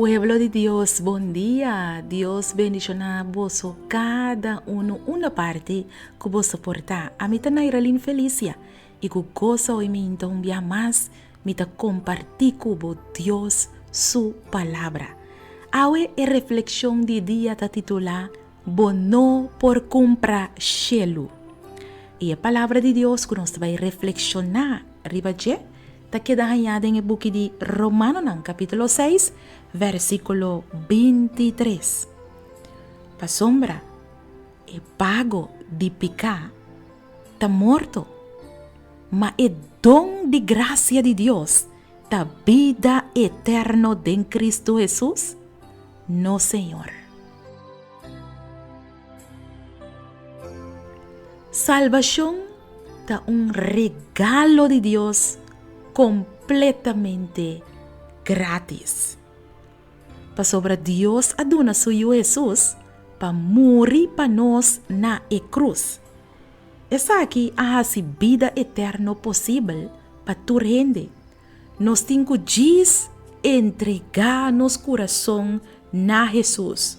Pueblo di Dios bon dia, Dios bendiciona boso cada uno unda parti cu bo soporta. Ami ta Nairalin Felicia I ku goso hoy mi yinta un biaha mas, mi ta kompartí ku bo Dios su Palabra. Awe e reflekshon di dia ta titulá Bo no por kumpra shelu. I e Palabra di Dios ku nos ta bai reflekshoná riba dje ta keda hañá den e buki di Romanonan kapítulo seis, vèrsikulo bintitres. Pasobra, E pago di piká ta morto, ma e don di grasia di Dios ta bida eterno den Kristu Hesus, no Señor. Salbashon ta un regalo di Dios kompletamente grátis. Pasobra Dios a duna su Yu Hesus pa muri pa nos na e krus. Esaki a hasi bida eterno posibel pa tur hende. Nos tin ku djis entregá nos kurason na Hesus.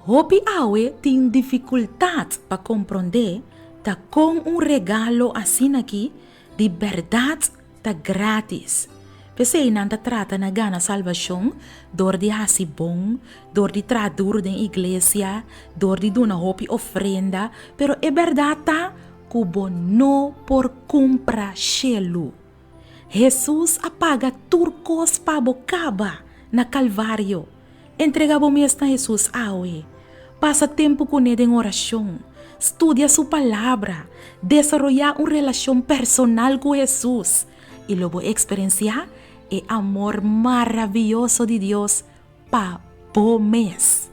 Hopi awe tin difikultat pa komprondé ta kon un regalo asin'aki di bèrdat Ta grátis. P'esei nan ta trata na gana salbashon dor di hasi bon, dor di traha duru den iglesia, dor di duna hopi ofrenda. Pero e bèrdat ta ku bo no por kumpra shelu. Hesus a paga tur kos pa bo kaba na Kalvario. Entrega bo mes na Hesus awe. Pasa tempu kuné den orashon. Studia su Palabra. Desaroyá un relashon personal ku Hesus, i lo bo eksperensiá e amor maravioso di Dios pa bo mes.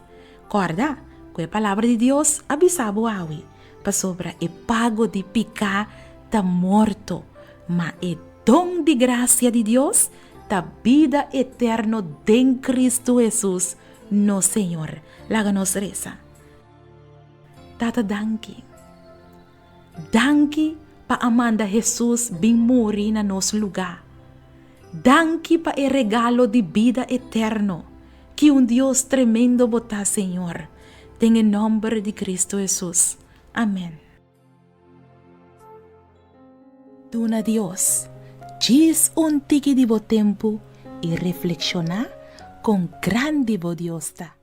Kòrda ku e Palabra di Dios a bisa bo awe, Pasobra e pago di piká ta morto, ma e don di grasia di Dios ta bida eterno den Kristu Hesus, nos Señor. Laga nos resa. Tata, danki. Danki pa a manda Hesus bin muri na nos lugá. Danki pa e regalo di bida eterno. Ki un Dios tremendo bo ta, Señor. Den e nòmber di Kristu Hesus. Amèn. Duna Dios djis un tiki di bo tempu i reflekshoná kon grandi bo Dios ta.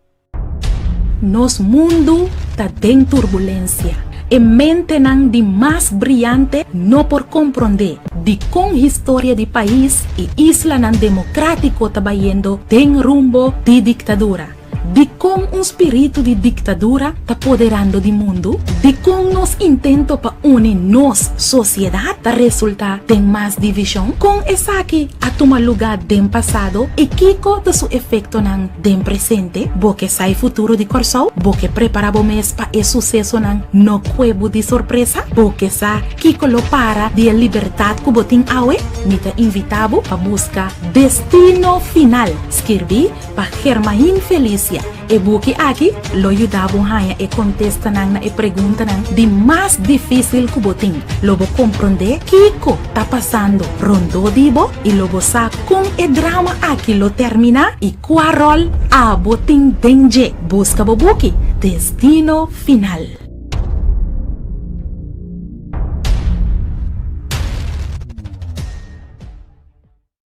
Nos mundu ta den turbulensia. E mentenan di mas briante no por komprondé dikon historia di pais i islanan demokratiko ta bayendo den rumbo di diktadura. Dikon un spiritu di diktadura ta poderando di mundu? Dikon nos intento pa uni nos sosiedat ta resultá den mas divishon? Kon esaki a tuma lugá den pasado i kiko ta su efektonan den presente? Bo ke sa e futuro di Kòrsou? Bo ke prepará bo mes pa e susesonan no kue bo di sorpresa? Bo ke sa kiko lo para di e libertat ku bo tin awe? Mi ta invitá bo pa buska Destino Final, skirbí. Pa Germain Felicia, e buki aki lo yuda bo haña e kontestanan na e preguntanan di mas difísil ku bo tin. Lo bo komprondé kiko ta pasando rondó di bo i lo bo sa kon e drama aki lo terminá i kua ròl abo tin den dje. Buska bo buki Destino Final.